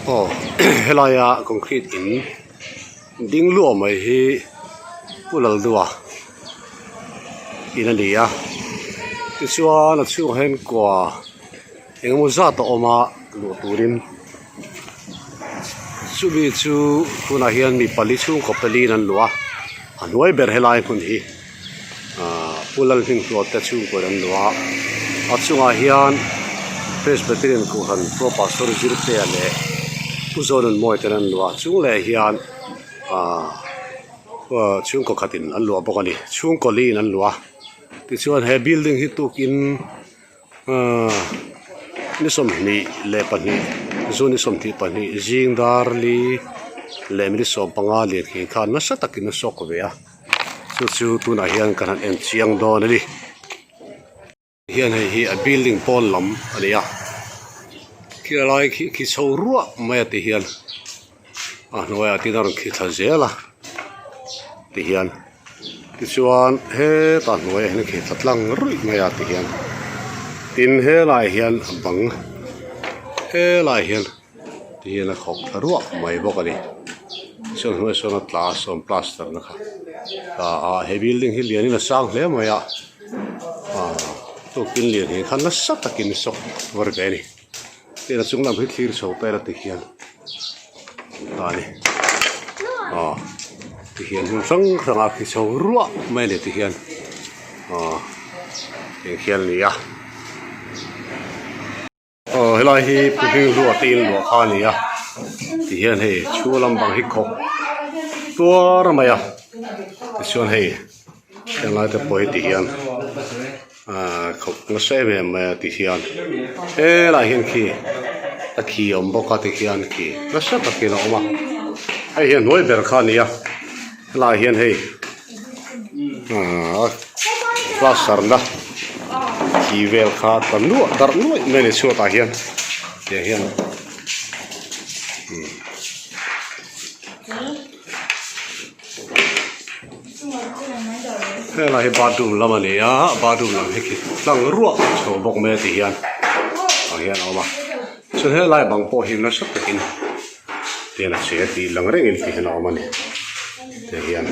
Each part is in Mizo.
aw helai a concrete in ding luah mai hi pu laldua in a ni a tichuan a chhungah hian kua-- Engemaw zat a awm a luh turin chumi chu tunah hian mi pali chhungkaw paliin an luh a a hnuai ber helai hmun hi ahh pulal hnim hnualte chhungkawiin an luh a a chungah hian presbyterian kuhhran khua pastor zirtea leh pu zawnun mawi ten an luh a a chung leh hian ahh ah chhungkaw khatin an luah bawk a ni chhungkaw li in an luh a tichuan he building hi tukin-- ni sawmhnih leh pahnih juni sawmthih pahnih zingdar li leh minute sawm panga leh thih khan nasa takin a shock ve a chu chu tunah hian kan han en chiang dawn a ni hian hei hi a building pawn lam a ni a khilai khi khi chho ruah mai a ti hian. a hnuaiah tin a rawn khi thla zel a ti hian tichuan heta hnuaiah hian a khi thla tlang ruih mai a ti hian tin helai hian a bang helai hian ti hian a khawk thla ruah mai bawk a ni saw hnuai sawn a tla sawn plaster nasa tla a he building hi lian in a sang hle mai a a chung kil lian hi khan nasa takin shock a tûr ve a ni. Pera chung lam hi thlir chho pera ti hian ta ni aw tihian hmun hrang hrang a khi chho ruah mai a ni tihian aw eng khian a ni a aw helai hi puhling ruah te inluah kha a ni a tihian hei chhung lam bang hi khawk tuar mai a tichuan hei-- Helai te pawh hi ti hian aaa khawp nasa em em mai a ti hian helai hian khi a khi a awm bawk a ti hian khi nasa takin a awm a hei hian hnuai ber kha a ni a helai hian hei aaa plaster na khi vel kha a tla nuah darh nuai mai a ni chhuatah hian tiang hian umm. heng lai hi bathroom lam a ni a a bathroom lam hi tlang ruah a chho bawk mai a ti hian tah hian a awm a chuan he lai bang pawh hi nasa takin tel a che a tih lang reng in tih hian a awm a ni tih hian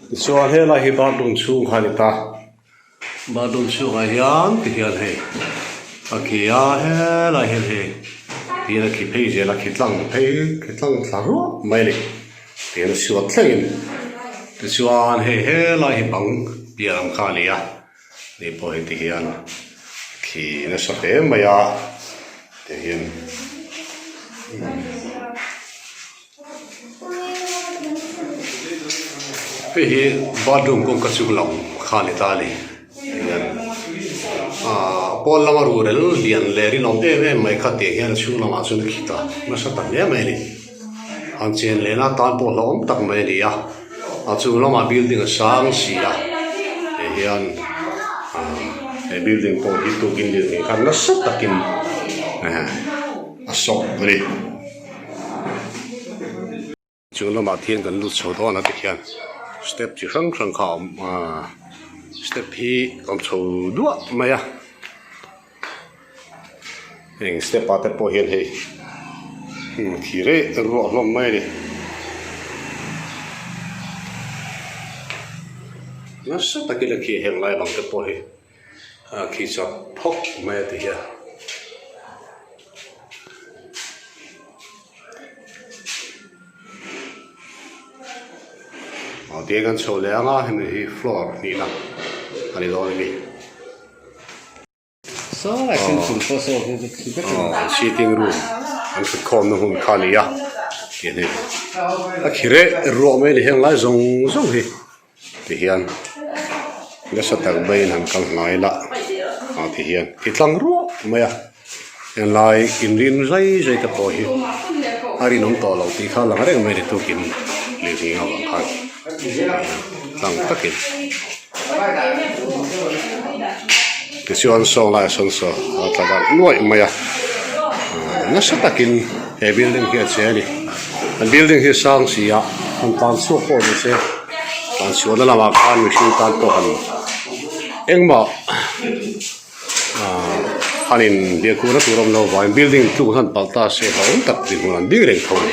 tichuan he lai hi bathroom chhung kha a ni ta. Bathroom chhungah hian ti hian hei a khi a helai hian hei ti hian a khi phei zel a khi tlang phei khi tlang thla ruah mai a ni tih an chhuah thleng a ni tichuan hei helai hi bang piah ang kha a ni a ni pawh hei ti hian a khi nasa hle mai a ti hian. Hei hi bathroom kawngka chhung lam kha a ni ta a ni aaa pawn lama ruhrel lian leh rinawm em em mai kha teh hian a chhung lamah sawn a khit a hmasa tak hle mai a ni han chen leh na tan pawh hlauhawm tak mai a ni a a chung lamah building a sang si a tih hian aaa he building pawh hi tuikin lirthei khan nasa takin a sawh a ni. Chung lamah khian kan lut chho dawn a ti khian step chi hrang hrang kha a awm a step hi awm chho duah mai a heng step ah te pawh hian hei hnim khi rei a ruah hlawm mai a ni nasa takin a khi a heng lai bang te pawh hi. A khi chak phawk mai a ti hian. Aw tiang kan chho leh anga hemi hi floor hnihna a ni dawn emi. Sitting room an thut khawmna hun kha nia tih a ni. A khi reh ruah mai a ni heng lai zawng zawng hi. tihian nasa tak maiin han kal hnai la ah tihian i tlang ruah mai a helai inrin zai zai te pawh hi a rinawm tawh lo tih kha a lang reng mai a ni tlukin lirthei avang khan tlang takin. Tichuan saw laia sawn saw a tla darh nuaih mai a, nasa takin he building hi a che a ni. He building hi sang si a, han tan chhuak pawh ni se, tlan chhuahna lamah khan mihring tan pawh han engmah han in biakhuna tur a awm lo vangin building in tluk ah hian paltasa a awm tak dinhmun an ding reng tho a ni.